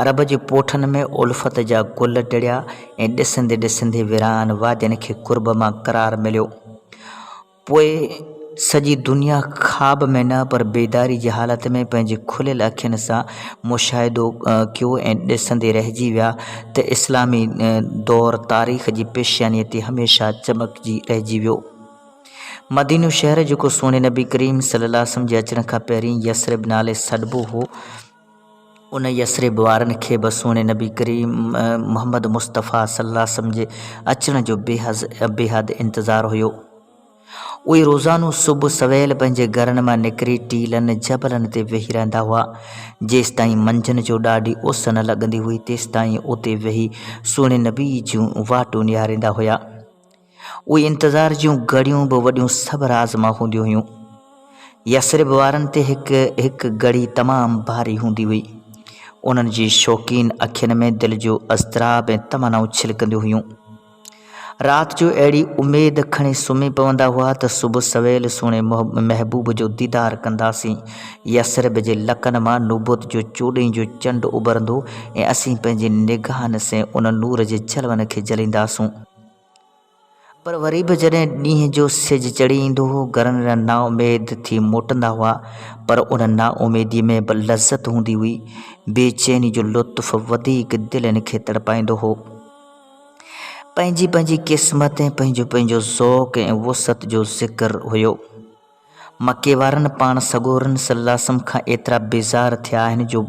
عرب جي پوٺن ۾ الفت جا گل ٽڙيا ۽ ڏسندي ڏسندي ويران وادين کي قرب مان قرار مليو. پوء سڄي دنيا خواب ۾ نه پر بيداري جي حالت ۾ پنهنجي کليل اکين سان مشاهدو ڪيو ۽ ڏسندي رهجي ويا ته اسلامي دور تاريخ جي پيشيانيء تي هميشه چمڪجي رهجي ويو. مدينو شهر جيڪو سهڻي نبي ڪريم صلعم جي اچڻ کان پهرين يثرب نالي سڏبو هو، ان يثرب وارن کي به سهڻي نبي ڪريم محمد مصطفيٰ صلّي الله عليه وسلّم جي اچڻ جو بيحد انتظار هيو. اهي روزانو صبح سويل پنهنجي گهرن مان نڪري ٽيلن، جبلن تي ويهي رهندا هئا. جيستائين منجهند جو ڏاڍي اس نه لڳندي هئي، تيستائين اتي ويهي سهڻي نبي جون واٽون نهاريندا هيا. اهي انتظار جون گهڙيون به وڏيون صبر آزما هونديون هيون. يثرب وارن تي هڪ هڪ گهڙي تمام ڀاري هوندي هئي. انهن جي شوقين اکين ۾ دل جو اضطراب ۽ تمنائون ڇلڪنديون هيون. رات جو اهڙي اميد کڻي سمهي پوندا هئا ته صبح سويل سهڻي محبوب جو ديدار ڪنداسين، يثرب جي لڪن مان نبوت جو چوڏهين جو چنڊ اڀرندو ۽ اسين پنهنجي نگاهن سين ان نور جي جلون کي جلينداسون. پر وري به جڏهن ڏينهن جو سج چڙهي ايندو هو، گرن رن نا اميد ٿي موٽندا هئا، پر ان نا اميديء ۾ به لذت هوندي هئي. بي چيني جو لطف وڌيڪ دلين کي تڙپائيندو هو. پنهنجي پنهنجي قسمت ۽ پنهنجو پنهنجو ذوق ۽ وسعت جو ذڪر هيو. مڪي وارن پاڻ سڳورن صلّي اللّٰه وسلّم کان ايترا بيزار ٿيا آهن جو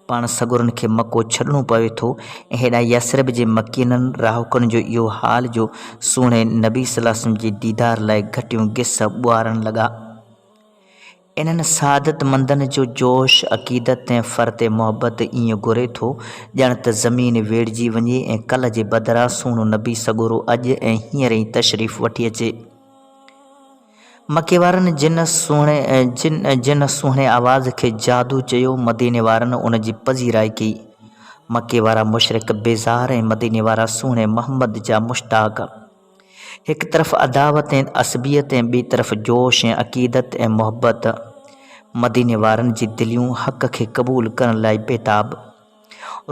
پاڻ سڳورن کي مڪو ڇڏڻو پوي ٿو ۽ هيڏانهن يثرب جي مڪينن، رهاڪن، جو اهو حال جو سهڻي نبي صلّي اللّٰه وسلّم جي ديدار لاء گهٽيون گس ٻوهارڻ لڳا. انهن سعادتمندن جو جوش، عقيدت ۽ فرط محبت ائين گهري ٿو ڄڻ ته زمين ويڙهجي وڃي ۽ ڪلهه جي بدران سهڻو نبي سڳورو اڄ ۽ هينئر ئي تشريف وٺي اچي. مڪي وارن جن جن سهڻي آواز کي جادو چيو، مديني وارن ان جي پذيرائي ڪئي. مڪي وارا مشرڪ بيزار ۽ مديني وارا سهڻي محمد جا مشتاق. هڪ طرف عداوت ۽ عصبيت ۽ ٻي طرف جوش ۽ عقيدت ۽ محبت. مديني وارن جي دليون حق کي قبول ڪرڻ لاء بيتاب.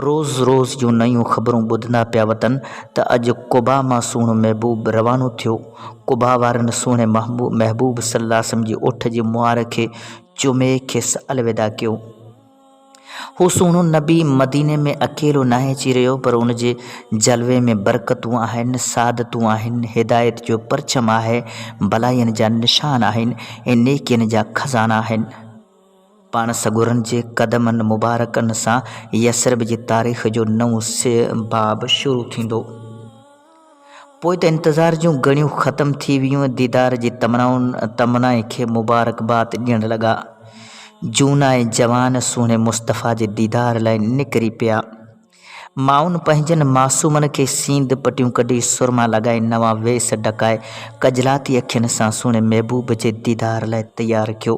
روز روز جون نيون خبرون ٻڌندا پيا وتن ته اڄ قباء مان سهڻو محبوب روانو ٿيو. قباء وارن سهڻي محبوب صلّي اللّٰه عليه وسلّم جي اوٺ جي مهار کي چمي کيس الوداع ڪيو. هو سهڻو نبي مديني ۾ اڪيلو ناهي اچي رهيو پر ان جي جلوي ۾ برڪتون آهن، سعادتون آهن، هدايت جو پرچم آهي، ڀلائين جا نشان آهن ۽ نيڪين جا خزانا آهن. پاڻ سڳورن جي قدمن مبارڪن سان يثرب جي تاريخ جو نئون باب شروع ٿيندو. پوء ته انتظار جون گهڙيون ختم ٿي ويون، ديدار جي تمنائن تمنائن کي مبارڪباد ڏيڻ لڳا. جهونا ۽ جوان سهڻي مصطفيٰ جي ديدار لاء نڪري پيا. مائن پنهنجن معصومن کي سينڌ پٽيون ڪڍي، سرما لڳائي، نوان ويس ڍڪائي، کجلاتي اکين سان سهڻي محبوب جي ديدار لاء تيار ڪيو.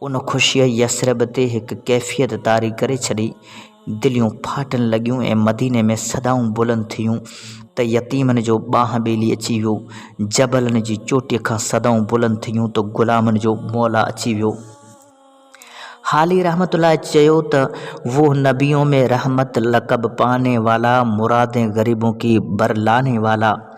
ان خوشيء يثرب تي هڪ ڪيفيت طاري ڪري ڇڏي، دليون ڦاٽڻ لڳيون ۽ مديني ۾ صدائون بلند ٿيون ته يتيمن جو ٻانهن ٻيلي اچي ويو، جبلن جي چوٽيء کان صدائون بلند ٿيون ته غلامن جو مولا اچي ويو. حالي رحمة الله چيو ته وو نبيون مي رحمت لقب پاني والا مرادين غريبون ڪي بر لانے والا.